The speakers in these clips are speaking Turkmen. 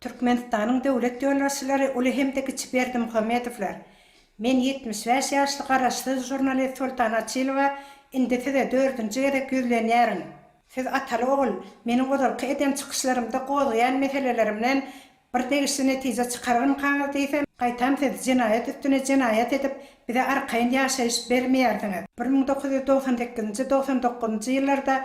Türkmenistanyň döwlet ýolbaşçylary uly hem-de kiçi Berdimuhamedowlar. Men ýetmiş bäş ýaşly garaşsyz žurnalist Soltan Açylowa indi size dördünji gezek ýüzlenýärin. Siz ataly-ogul, meniň ozalky eden çykyşlarymda gozgaýan meselelerimden Bir degişli netije çykararmykaňyz diýsem, gaýtam siz jenaýat üstüne jenaýat edip, bize arkaýyn ýaşaýyş bermeýärsiňiz. Bir müň dokuz ýüz togsan sekizinji, togsan dokuzynjy ýyllarda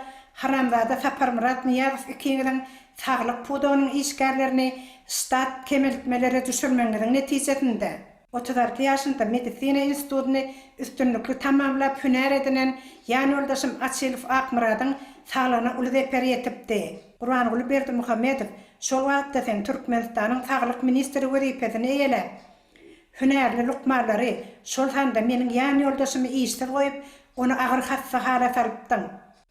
haramzada Saparmyrat Nyýazow ikiňiziň saglyk pudagynyň işgärlerini ştat kemeltmelere düşürmegiňiziň netijesinde, Otuz alty ýaşynda medisina institutyny üstünlikli tamamlap hünär edinen ýanýoldaşym Açylow Akmyradyň saglygyna uly zeper ýetipdi. Gurbanguly Berdimuhamedow şol wagtda sen Türkmenistanyň saglyk ministri wezipesini eýeläp, hünärli lukmanlary, şol sanda meniň ýanýoldaşymy işsiz goýup, ony agyr hassa hala salypdyň.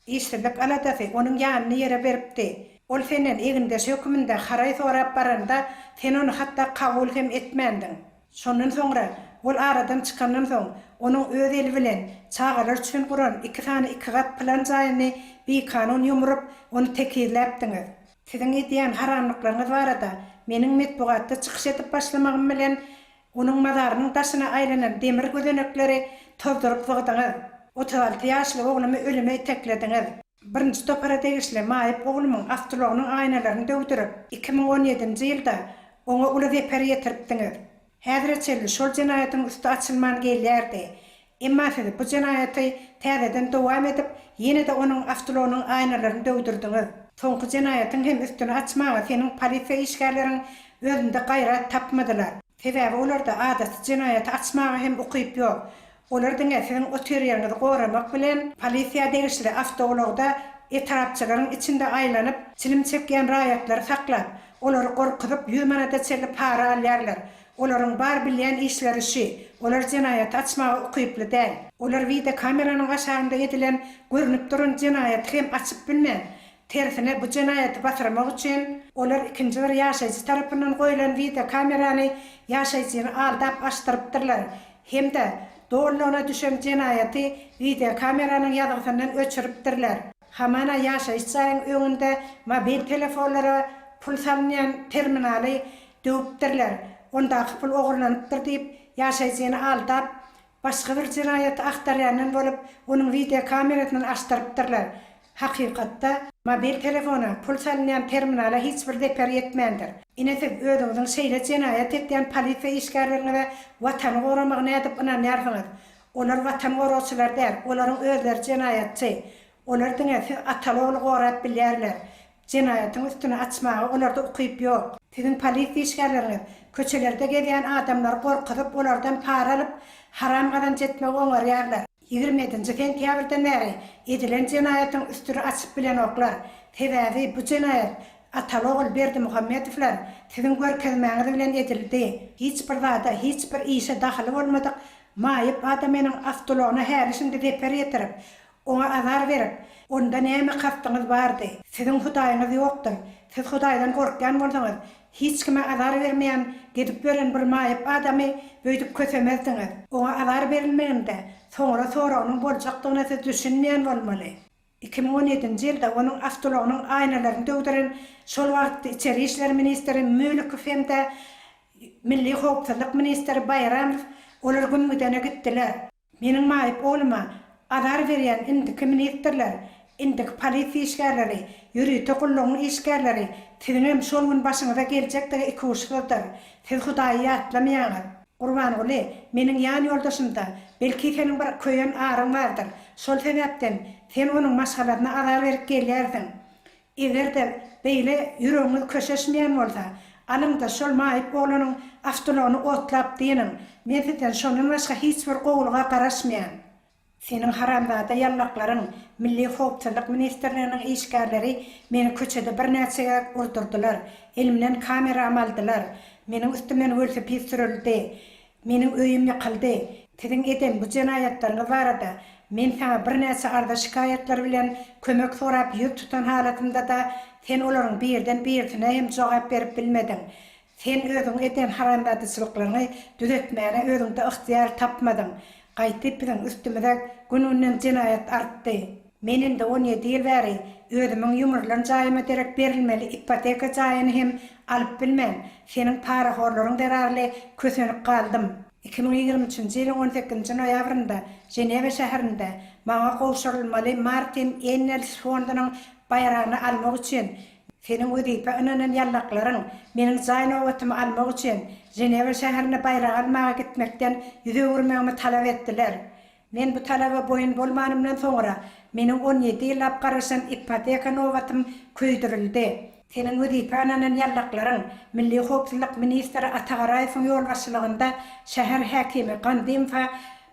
Işsizlik aladasy onuň ýanyny ýere beripdi. Ol senden egindeş höküminde haraý sorap baranda, sen ony hatda kabul hem etmändiň. Şondan soňra, ol aradan çykandan soň, onuň öz eli bilen çagalar üçin guran iki sany iki gat plan jaýyny bikanun ýumrup, ony tekizläpdiňiz. Siziň edýän haramlyklaryňyz barada meniň metbugatda çykyş edip başlamagym bilen, Onuň mazarynyň daşyna aýlanan demir gözenekleri tozduryp zygdyňyz. Otuz alty ýaşly oglumy ölüme iteklediňiz. Birinji topara degişli Maýyp oglumyň awtoulagynyň aýnalaryny döwdürip, iki müň on ýedinji ýylda oňa uly zeper ýetiripdiňiz. Häzire çenli şol jenaýatyň üsti açylman gelýärdi. Emma siz bu jenaýaty täzeden dowam edip, ýene-de onuň awtoulagynyň aýnalaryny döwdürdiňiz. Soňky jenaýatyň hem üstüni açmaga seniň polisiýa işgärleriň özünde gaýrat tapmadylar. Sebäbi olarda adaty jenaýaty açmaga hem ukyp ýok. Olar diňe siziň otyryýeriňizi goramak bilen, polisiýa degişli awtoulagda etrapçylaryň içinde aýlanyp, çilim çekýän raýatlary saklap, olary gorkuzyp ýüz manada çenli para alýarlar. Olaryň bar bilýän işleri şü. Olar jenaýaty açmaga ukyply däl. Olar wide kameranyň aşagynda edilen görnüp duran jenaýaty hem açyp bilmän, tersine bu jenaýaty batyrmak üçin olar ikinji bir ýaşaýjy tarapyndan goýulan wide kamerany ýaşaýjyny aldap açdyrypdyrlar hem-de dolulygyna düşen jenaýaty wide kameranyň ýazgysyndan öçüripdirler. Hamana ýaşaýyş jaýyň öňünde mobil telefonlara pul salynýan terminaly Döwüpdirler. Ondaky pul ogurlanypdyr diýip, ýaşaýjyny aldap, başga bir jenaýaty agtarýandan bolup, onuň wideokamerasyny açdyrypdyrlar. Hakykatda. Mobil telefona, pul salynýan terminala hiç bir zeper ýetmändir. Ine siz özüňiziň şeýle jenaýat etýän polisiýa işgärleriňize Watany goramak nädip ynanýarsyňyz? Olar Watan goragçylar däl, olaryň özleri jenaýatçy. Olar diňe siz ataly-ogly gorap bilýärler. Jenaýatyň üstüni açmaga olarda ukyp ýok. Siziň polisiýa işgärleriňiz köçelerde gezýän adamlary gorkuzyp, olardan para alyp, haram gazanç etmegi oňarýarlar. Ýigrimi ýedinji sentýabrdan bäri edilen jenaýatyň üstüri açyp bilenoklar. Sebäbi bu jenaýat Ataogul Berdimuhamedowlar siziň görkezmäňiz bilen edildi. Hiç bir zada, hiç bir işe dahyly bolmadyk maýyp adamynyň awtoulagyna häli-şindi zeper ýetirip, Oňa azar berip, Onda näme kastyňyz bardy? Siziň Hudaýyňyz ýokdur. Siz Hudaýdan gorkýan bolsaňyz, hiç kime azar bermeýän gezip ýören bir maýyp adamy öýdüp kösemezdiňiz. Oňa azar berilmeginde soňra soragynyň boljakdygyna siz düşünmeýän bolmaly. Iki müň on ýedinji ýylda onuň awtoulagynyň aýnalaryny döwdüren şol wagtky içeri işler ministri Mülikow hem-de Milli howpsuzlyk ministri Baýramow olar Gümgüdene gitdiler. Meniň maýyp ogluma azar berýän indiki ministrler, indiki polisiýa işgärleri, ýörite gullugyň işgärleri siziňem şol gün başyňyza geljekdigi ikuçsyzdyr. Siz Hudaýy ýatlamaýaňyz. Gurbanguly, meniň ýan ýoldaşymda, belki seniň bir köýen aryň bardyr, şol sebäpden sen onuň maşgalasyna azar berip gelýärsiň. Eger-de beýle ýüregiňiz köşeşmeýän bolsa, alyň-da şol maýyp oglanyň awtoulagyny otlap dynyň. Men sizden şondan başga hiç bir gowulyga garaşmaýan. Seniň haramzada ýallaklaryň, Milli howpsuzlyk ministrliginiň işgärleri meni köçede birnäçe gezek urdurdylar, elimden kameram aldylar, meniň üstümden welosiped sürüldi. Meniň öýüm ýykyldy. Siziň eden bu jenaýatlaryňyz barada men saňa birnäçe arza-şikaýatlar bilen kömek sorap ýüz tutan halatymda-da, sen olaryň birden birisine hem jogap berip bilmediň. Sen özüň eden haramzadyçylyklaryňy düzetmäne özüňde ygtyýar tapmadyň. Gaýty biziň üstümize gün-günden jenaýat artdy. Men indi on ýedi ýyl bäri özümiň ýumrulan jaýyma derek berilmeli ipoteka jaýyny hem alyp bilmän, seniň parahorlaryň zerarly kösenip galdym. Iki müň ýigrimi üçünji ýylyň on sekizinji noýabrynda Ženewa şäherinde maňa gowşurylmaly Martin Engels fondunyň baýragyny almak üçin, seniň wezipä ynanan ýallaklaryň meniň jaý nobatymy almak üçin Ženewa şäherine baýrak almaga gitmekden ýüz öwürmegimi talap etdiler. Men bu talaba boýun bolmanymdan soňra, meniň on ýedi ýyllap garaşan ipoteka nobatym köýdürildi. Seniň wezipä ananan ýallaklaryň, milli howpsuzlyk ministri Ata Garaýewiň ýolbaşçylygynda şäher häkimi Gandymowa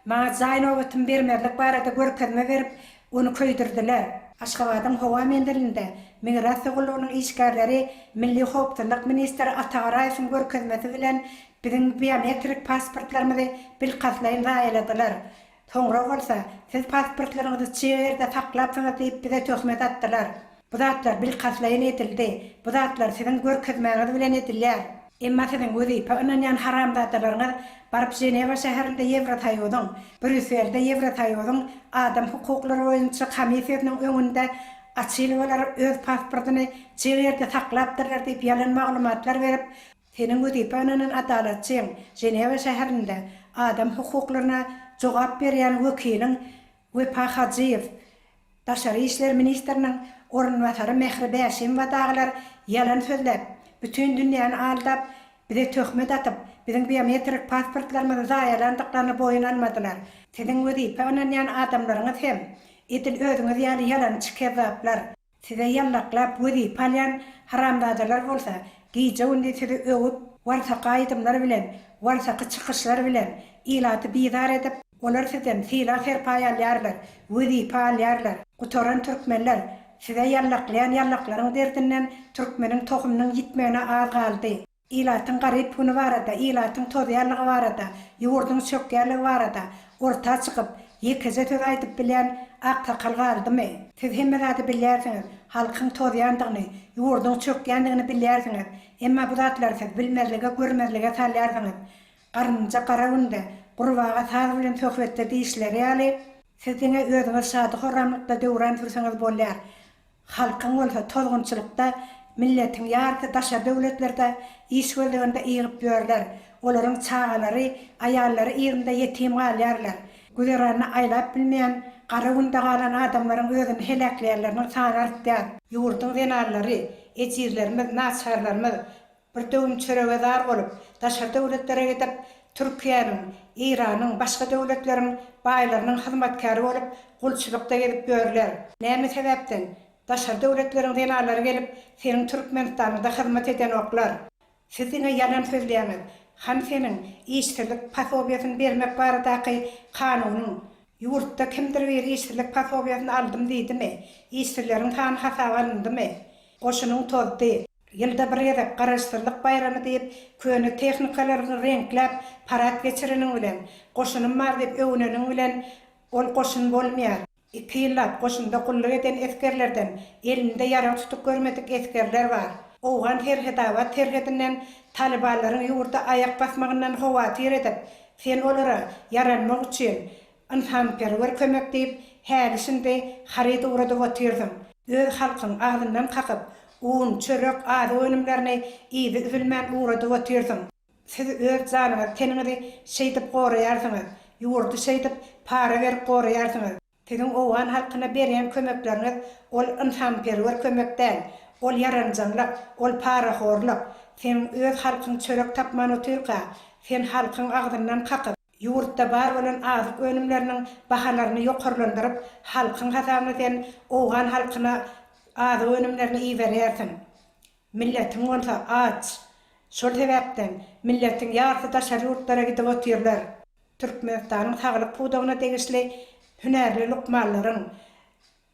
maňa jaý nobatym bermezlik barada görkezme berip, ony köýdürdiler. Aşgabadyň howa menzilinde Migrasiýa gullugynyň işgärleri milli howpsuzlyk ministri Ata Garaýewiň görkezmesi bilen Biziň biometrik pasportlarymyzy bilkastlaýyn zaýaladylar. Soňra bolsa, siz pasportlaryňyzy çig ýerde saklapsyňyz diýip bize töhmet atdylar. Bu zatlar bilkastlaýyn edildi. Bu zatlar siziň görkezmäňiz bilen edilýär. Emma siziň wezipä ynanýan haramzadalaryňyz baryp Ženewa şäherinde Ýewrosoýuzyň, Brýusselde Ýewrosoýuzyň adam hukuklary boýunça komissiýasynyň öňünde açyl olar öz pasportyny çig ýerde saklapdyrlar diýip ýalan maglumatlar berip, Seniň wezipe ynanylan adalatçyň, Ženewa şäherinde adam hukuklaryna jogap berýän wekiliň Wepa Hajyýew, daşary işler ministriniň orunbasary Mehri Bäşimowa dagylar ýalan sözläp, bütin dünýäni aldap, bize töhmet atyp, biziň biometrik pasportlarymyzy zaýalandyklaryny boýun almadylar. Siziň wezipe ynanýan adamlaryňyz hem edil özüňiz ýaly ýalançy-kezzaplar. Size ýallaklap wezipe alýan haramzadalar bolsa gije-gündiz sizi öwüp, warsaka aýdymlar bilen, warsaky çykyşlar bilen ilaty bizar edip, olar sizden sylag-serpaý alýarlar, wezipe alýarlar. Gutaran türkmenler, size ýallaklaýan ýallaklaryň derdinden türkmeniň tohumynyň ýitmegine az galdy. Ilatyň garyp güni barada, ilatyň tozýanlygy barada, ýurduň çökýänligi barada orta çykyp, ýekeje söz aýdyp bilýän aksakal galdymy? Siz hemme zady bilýärsiňiz, halkyň tozýandygyny, ýurduň çökýändigini bilýärsiňiz, emma bu zatlary siz bilmezlige, görmezlige salýarsyňyz. Garynja gara günde, gurbaga saz bilen söhbetde diýişleri ýaly, siz diňe özüňiz şady-horramlykda döwran sürseňiz bolýar, Halkyň bolsa tozgunçylykda milletiň ýarysy daşary döwletlerde iş gözleginde ýygyp ýörler, olaryň çagalary, aýallary yzynda ýetim galýarlar. Güzeranyny aýlap bilmeýän, gara günde galan adamlaryň özüni heläkleýänleriniň sany artýar. Ýurduň zenanlary, ejizlerimiz, naçarlarymyz Bir döwüm çörege zar bolup, daşary döwletlere gidip, Türkiýäniň, Eýranyň, başga döwletleriň baýlarynyň hyzmatkäri bolup, gulçulykda gezip ýörler. Näme sebäpden? Daşary döwletleriň zenanlary gelip, seniň Türkmenistanyňda hyzmat edenoklar. Siz diňe ýalan sözleýäňiz. Han seniň işsizlik pasobiýasyny bermek baradaky kanunyň, ýurtda kimdir biri işsizlik pasobiýasyny aldym diýdimi? Işsizleriň sany hasaba alyndymy? Goşunyň tozdy. Ýylda bir gezek Garaşsyzlyk baýramy diýip, köne tehnikalaryňy reňkläp, parad geçireniň bilen, goşunym bar diýip öwüneniň bilen ol goşun bolmaýar. Iki ýyllap goşunda gulluk eden esgerlerden elinde ýarag tutup görmedik esgerler bar. Owgan Serhetabat serhedinden talybanlaryň ýurda aýak basmagyndan howatyr edip, sen olara ýaranmak üçin, Ynsanperwer kömek diýip häli-şindi haryt ugradyp otyrsyň. Öz halkyň agzyndan kakyp, un, çörek, azyk önümlerini yzy üzülmän ugradyp otyrsyň. Siz öz janyňyzy teniňizi şeýdip goraýarsyňyz, ýurdy şeýdip para berip goraýarsyňyz. Siziň owgan halkyna berýän kömekleriňiz ol ynsanperwer kömek däl, ol ýaranjaňlyk, ol parahorlyk. Seň öz halkyň çörek tapman otyrka, sen halkyň agzyndan kakyp, Ýurtda bar bolan azyk önümleriniň bahalaryny ýokarlandyryp, halkyň hasabyna sen owgan halkyna azyk önümlerini iberýärsiň. Milletiň bolsa aç. Şol sebäpden, milletiň ýarsy daşary ýurtlara gidip otyrlar. Türkmenistanyň saglyk pudagyna degişli hünärli lukmanlaryň,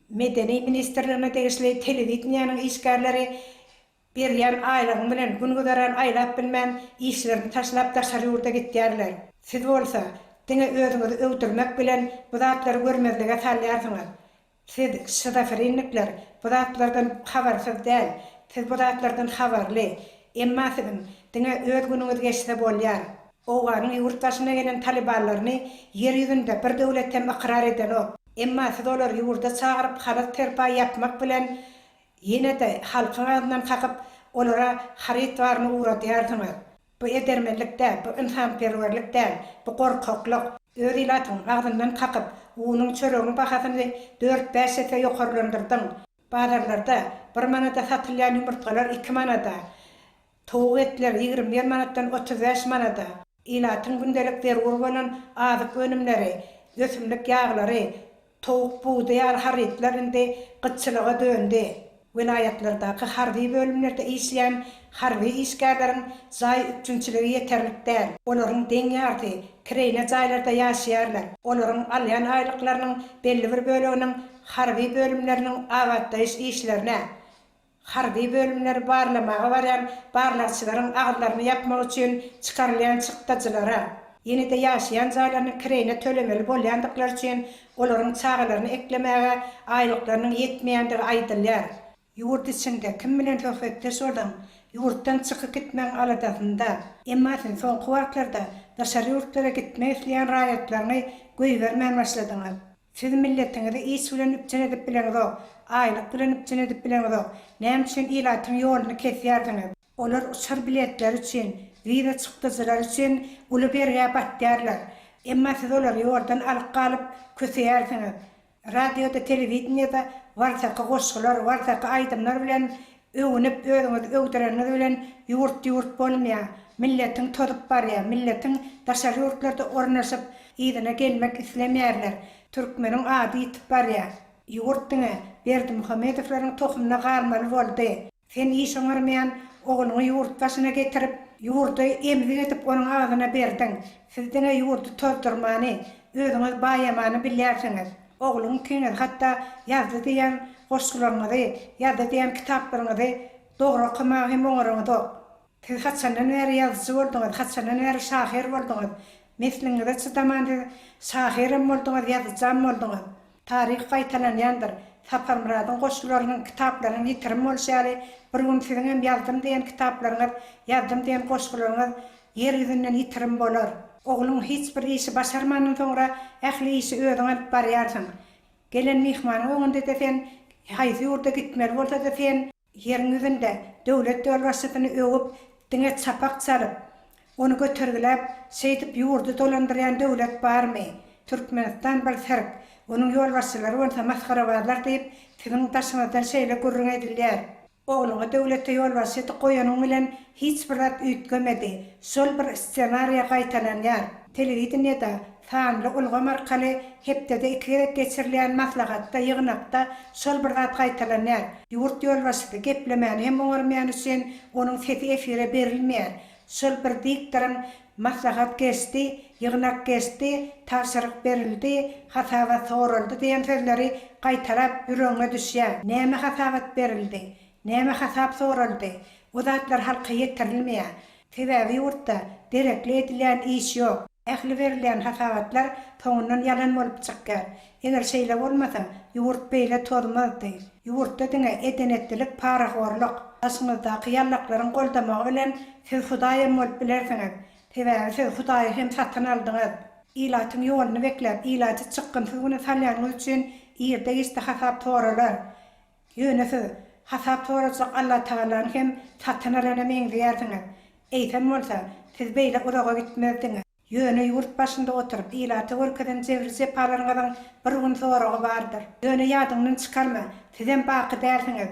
Medeni ministrligine degişli telewideniýäniň işgärleri Berýän aýlygyň bilen gün-güzeran aýlap bilmän, işlerini taşlap daşary ýurda gitýärler. Siz bolsa, diňe özüňizi öwdürmek bilen bu zatlary görmezlige salýarsyňyz. Siz, şizofrennikler, bu zatlardan habarsyz däl. Siz bu zatlardan habarly. Emma siziň, diňe öz günüňiz geçse bolýar. Owganyň ýurt başyna gelen talybanlaryny ýer ýüzünde bir döwlet hem ykrar edenok. Emma siz olary ýurda çagyryp halat-serpaý ýapmak bilen Ýene-de halkyň adyndan kakyp, olara haryt baryny ugradýarsyňyz. Bu edermenlik däl, bu ynsanperwerlik däl, bu gorkaklyk. Öz ilatyňyň agzyndan kakyp, unuň, çöregiň bahasyny dört-bäş esse ýokarlandyrdyň. Bazarlarda bir manada satylýan ýumurtgalar iki manada. Towuk etleri ýigrimi bir manatdan otuz bäş manada, ilatyň gündelik zerur bolan azyk önümleri, ösümlik ýaglary, towuk budy ýaly harytlar indi gytçylyga döndi. Welaýatlardaky harby bölümlerde işleýän harby işgärleriň jaý üpjünçiligi ýeterlik däl. Olaryň deň ýarysy kireýne jaýlarda ýaşaýarlar. Olaryň alýan aýlyklarynyň belli bir böleginiň harby bölümleriniň abatlaýyş işlerine, Harby bölümleri barlamaga barýan barlagçylaryň agzlaryny ýapmak üçin çykarylýan çykdajylara, ýene-de ýaşaýan jaýlarynyň kireýine tölemeli bolýandyklary üçin olaryň çagalaryny eklemäge aýlyklarynyň ýetmeýändigi aýdylýar. Ýurt içinde kim bilen söhbetdeş bolaň, ýurtdan çykyp gitmegiň aladasynda. Emma siz soňky wagtlarda daşary ýurtlara gitmek isleýän raýatlaryňy goýbermän başladyňyz. Siz milletiňizi iş bilen üpjün edip bileňzok, aýlyk bilen üpjün edip bileňzok, näme üçin ilatyň ýoluny kesýärsiňiz? Olar uçar biletleri üçin, wiza çykdyjylary üçin uly bergä batýarlar. Emma siz olary ýoldan alyp galyp köseýärsiňiz. Radioda, telewideniýede warsaky goşgular, warsaky aýdymlar bilen Öwünip özüňizi öwdüreniňiz bilen ýurt ýurt bolmaýar. Milletiň tozup barýar. Milletiň daşary ýurtlarda ornaşyp yzyna gelmek islemeýärler. Türkmeniň ady ýitip barýar. Ýurt diňe Berdimuhamedowlaryň tohumyna galmaly boldy. Sen iş oňarmaýan ogluňy ýurt başyna getirip, ýurdy emzik edip onuň agzyna berdiň. Siz diňe ýurdy tozdurmany, özüňiz baýamany bilýärsiňiz. Ogluň ikiniz hatda Ýazdy diýen goşgularyňyzy, Ýazdy diýen kitaplaryňyzy dogry okamaga hem oňaryňyzok. Siz haçandan bäri ýazyjy bolduňyz, haçandan bäri şahyr bolduňyz? Nesliňize çydaman siz şahyram bolduňyz, ýazyjam bolduňyz. Taryh gaýtalanýandyr. Saparmyradyň goşgularynyň, kitaplarynyň ýitirim bolşy ýaly, bir gün siziňem Ýazdym diýen kitaplaryňyz, Ýazdym diýen goşgularyňyz Ýer ýüzünden ýitirim bolar. Ogluň hiç bir işi başarmandan soňra ähli işi özüň alyp barýarsyň. Gelen myhmanyň öňünde-de sen, haýsy ýurda gitmeli bolsa-da sen, ýeriň ýüzünde döwlet ýolbaşçysyny öwüp, diňe çapak çalyp, ony götergiläp, şeýdip ýurdy dolandyrýan döwlet barmy? Türkmenistan bir sirk, onuň ýolbaşçylary bolsa masgarabazlar diýip, siziň daşyňyzdan şeýle gürrüň edilýär. Ogluňa döwlete ýolbaşçydyk goýanyň bilen hiç bir zat üýtgemedi. Şol bir ssenariýa gaýtalanýar. Telewideniýede, sanly ulgam arkaly hepdede iki gezek geçirilýän maslahatda, ýygnakda şol bir zat gaýtalanýar. Ýurt ýolbaşçysy geplemäni hem oňarmaýany üçin onuň sesi efire berilmeýär. Şol bir diktoryň Maslahat geçdi, ýygnak geçdi, tabşyryk berildi, hasabat soraldy diýen sözleri gaýtalap ýüregiňe düşýär. Näme hasabat berildi? Näme hasap soraldy? Bu zatlar halka ýetirilmeýär. Sebäbi ýurtda derekli edilýän iş ýok. Ähli berilýän hasabatlar soňundan ýalan bolup çykýar. Eger şeýle bolmasa, ýurt beýle tozmazdy. Ýurtda diňe edenetlilik, parahorluk, daşyňyzdaky ýallaklaryň goldamagy bilen siz Hudaý hem bolup bilersiňiz. Sebäbi siz Hudaýy hem satyn aldyňyz. Ilatyň ýoluny bekläp, ilaty çykgynsyz güne salýanyňyz üçin irde-giçde hasap soralar. Ýöne siz hasap sorajak Allatagalany hem satyn alana meňzeýärsiňiz. Eýsem bolsa, siz beýle uzaga gitmezdiňiz. Ýöne ýurt başynda oturyp, ilata görkezen jebri-jepalaryňyzyň bir gün zoragy bardyr. Ýöne ýadyňdan çykarma, sizem baky dälsiňiz.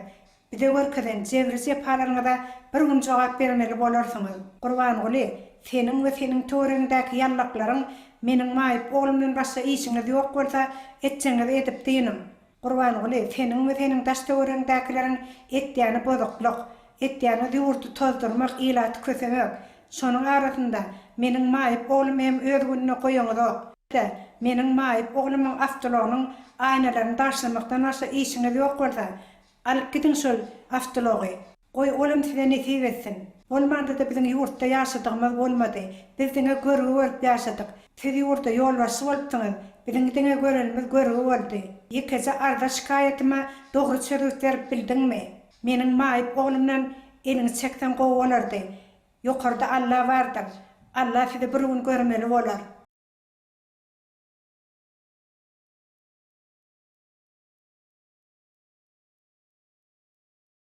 Bize görkezen jebri-jepalaryňyza bir gün jogap bermeli bolarsyňyz. Gurbanguly, seniň we seniň töweregiňdäki ýallaklaryň meniň maýyp oglumdan başga işiňiz ýok bolsa, etjegiňizi edip dynyň. Gurbanguly, seniň we seniň daş-töweregiňdäkileriň etýäni bozuklyk, etýäniňiz ýurdy tozdurmak, ilaty kösemek. Şonuň arasynda, meniň maýyp oglumy hem öz gününe goýuňyzok. Tä, meniň maýyp oglumyň awtoulagynyň aýnalaryny bagşlamakdan başga işiňiz ýok bolsa, alyp gidiň şol awtoulagy. Goý, olam size nesip etsin. Bolmanda-da biziň ýurtda ýaşadygymyz bolmady. Biz diňe görgi görüp ýaşadyk. Siz ýurda ýolbaşçy bolupsyňyz. Biziň diňe görenimiz görgi boldy. Ýekeje arza-şikaýatyma dogry çözgüt berip bildiňmi? Meniň maýyp oglumdan eliňi çekseň gowy bolardy. Ýokarda Alla bardyr. Alla sizi bir gün görmeli bolar.